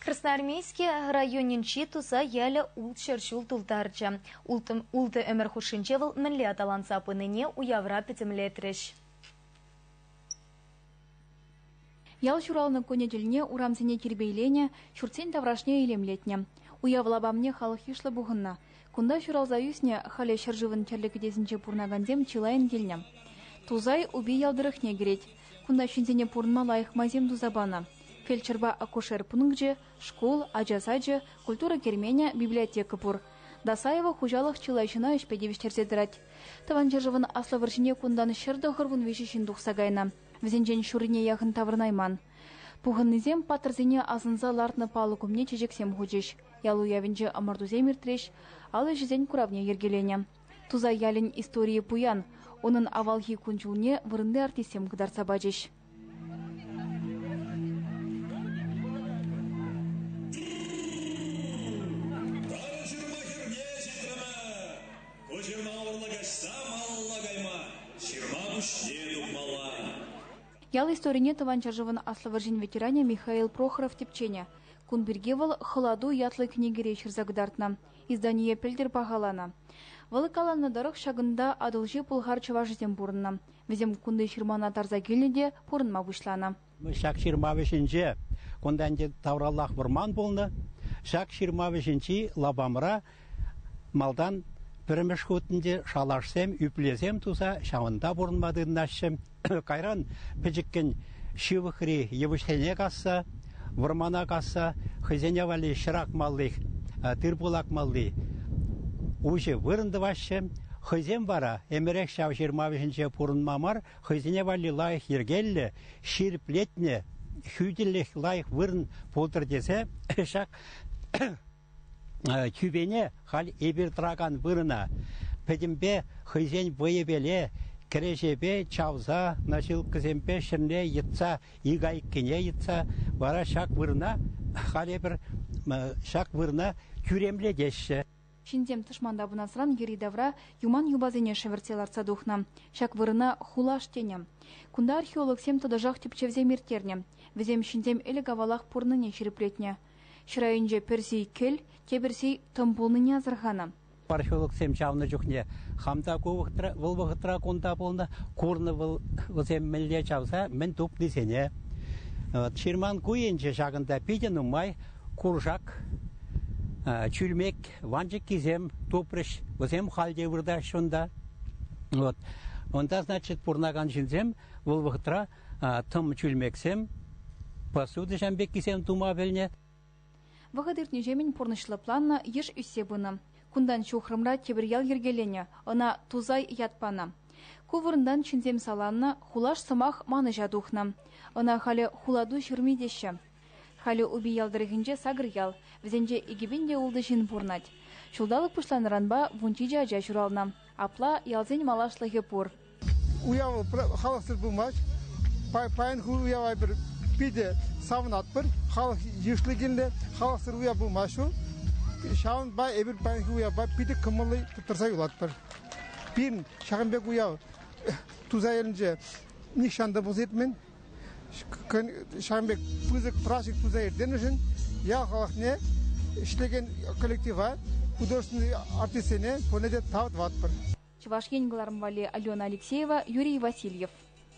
Красноармейски районӗнчи туса ялӗ ултҫӗр ҫул тултарчӗ. Ултӑ ӗмӗр хушшинче вӑл мӗнле аталанса пынине уявра пӗтӗмлетрӗҫ. Ял ҫуралнӑ кунӗ тӗлне урамсене тирпейленӗ, ҫуртсен таврашне илемлетнӗ. Уяв лапамне халӑх йышлӑ пухӑннӑ. Кунта ҫуралса ӳснӗ, халӗ ҫӗршывӑн тӗрлӗ кӗтесӗнче пурӑнакансем чылайӑн килнӗ. Тусай Упи ял тӑрӑхне кӗрет. Кунта ҫынсене пурӑнма лайӑх майсем туса панӑ. Фельдшерпа акушер пункчӗ, шкул, ача сачӗ, культура керменӗ, библиотека пур. Досаева хуҫалӑх чылай ҫына ӗҫпе тивӗҫтерсе тӑрать. Тӑван ҫӗршывӑн Аслӑ вӑрҫине кунтан ҫӗр тӑхӑр вун виҫӗ ҫын тухса кайнӑ. Вӗсенчен ҫуррине яхӑн таврӑнайман. Пухӑннисем паттӑрсене асӑнса лартнӑ палӑк умне чечексем хучӗҫ. Ял уявӗнче ӑмӑртусем иртрӗҫ, ал ӗҫӗсен куравне йӗркеленӗ. Тусай ялӗн историйӗ пуян. Унӑн авалхи кун-ҫулне вырӑнти артистсем кӑтартса пачӗҫ. ҫырма пуҫне тухмалла. Ял историне Тӑван ҫӗршывӑн Аслӑ вӑрҫин ветеранӗ Михаил Прохоров тӗпченӗ. Кун пирки вӑл «Хӑлату» ятлӑ кӗнекере ҫырса кӑтартнӑ, издание пӗлтӗр пахаланӑ. Вӑл каланӑ тӑрӑх, ҫакӑнта Атӑлҫи пӑлхар чӑвашӗсем пурӑннӑ. Вӗсем кунти ҫырмана тарса килнӗ те пурӑнма пуҫланӑ. Ҫак ҫырма вӗҫӗнче кунта ӗнтӗ тавраллах вӑрман пулнӑ. Ҫак ҫырма вӗҫӗнчи лапамра Малтан пӗрремӗш хутӗнче шалашсем, ӳплесем туса ҫавӑнта пурӑнма тытӑнаҫҫӗ. Кайран пӗчӗккӗн ҫывӑхри йывӑҫсене касса, вӑрмана касса хӑйсене валли ҫӗр акмалли, тырпул акмалли уҫӑ вырӑн тӑваҫҫӗ. Хӑйсем вара ӗмӗрех ҫав ҫырма вӗҫӗнче пурӑнма мар, хӑйсене валли лайӑх йӗркеллӗ, ҫирӗплетнӗ, хӳтӗлӗх лайӑх вырӑн пултӑр тесе ҫак Тӳпене халь эпир тӑракан вырӑна пӗтӗмпе хӑйсен вӑйӗпеле, кӗреҫепе чавса, наҫилккӑсемпе ҫӗрле йӑтса, икайккине йӑтса вара ҫак вырӑна халь эпир ҫак вырӑна тӳремлетеҫҫӗ. Ҫынсем тӑшманта пынасран йӗри-тавра юман юпасене шӗвӗртсе лартса тухнӑ. Ҫак вырӑна хулаш тенӗ. Кунта археологсем тӑтӑшах тӗпчевсем ирттернӗ. Вӗсем ҫынсем ӗлӗк-авалах пурӑннине ҫирӗплетнӗ. Ҫӗрайӗнче пӗрси кӗл, тепӗрси тӑм пулнине асӑрханӑ. Археологсем ҫавна чухне хам та ку вӑхӑтра, вӑл вӑхӑтра кунта пулнӑ, курнӑ вӑл вӗсем мӗнле чавса мӗн тупнисене. Ҫырман куйӗнче ҫакӑнта питӗ нумай куршак, чӳлмек, ванчӑккисем тупрӗҫ. Вӗсем халь те выртаҫҫӗ унта. Вот. Унта, значит, пурӑнакан ҫынсем вӑл вӑхӑтра тӑм чӳлмексем, посуда пеккисем тума пӗлнӗ. Вӑхӑт иртнӗҫемӗн пурнӑҫлӑ планлӑ йыш ӳссе пынӑ. Кунтан ҫухрӑмра тепӗр ял йӗркеленӗ, ӑна Тусай ят панӑ. Ку вырӑнтан ҫынсем саланнӑ, хулаш сӑмах манӑҫа тухнӑ. Ӑна халӗ Хулату ҫырми теҫҫӗ. Халӗ Упи ял тӑрӑхӗнче сакӑр ял, вӗсенче икӗ пин те ултӑ ҫын пурӑнать. Ҫулталӑк пуҫланнӑранпа вун ҫичӗ ача ҫуралнӑ. Апла ялсен малашлӑхӗ пур. Уяв халӑхсӑр пымасть. Паянхи уява эпир питӗ савӑнатпӑр. Халӑх йышлӑ килнӗ, халӑхсӑр уяв пымасть ҫул. Ҫавӑнпа эпир паянхи уявпа питӗ кӑмӑллӑ тӑрса юлатпӑр. Пирӗн ҫакӑн пек уяв туса илнӗ нихҫан та пулса иртмен. ҫавӑн пек пысӑк праздник туса ирттернӗшӗн ял халӑхне ӗҫлекен коллектива, художественнӑй артистсене пурне те тав тӑватпӑр. Чӑваш Ен кӑларӑм валли Алена Алексеева, Юрий Васильев.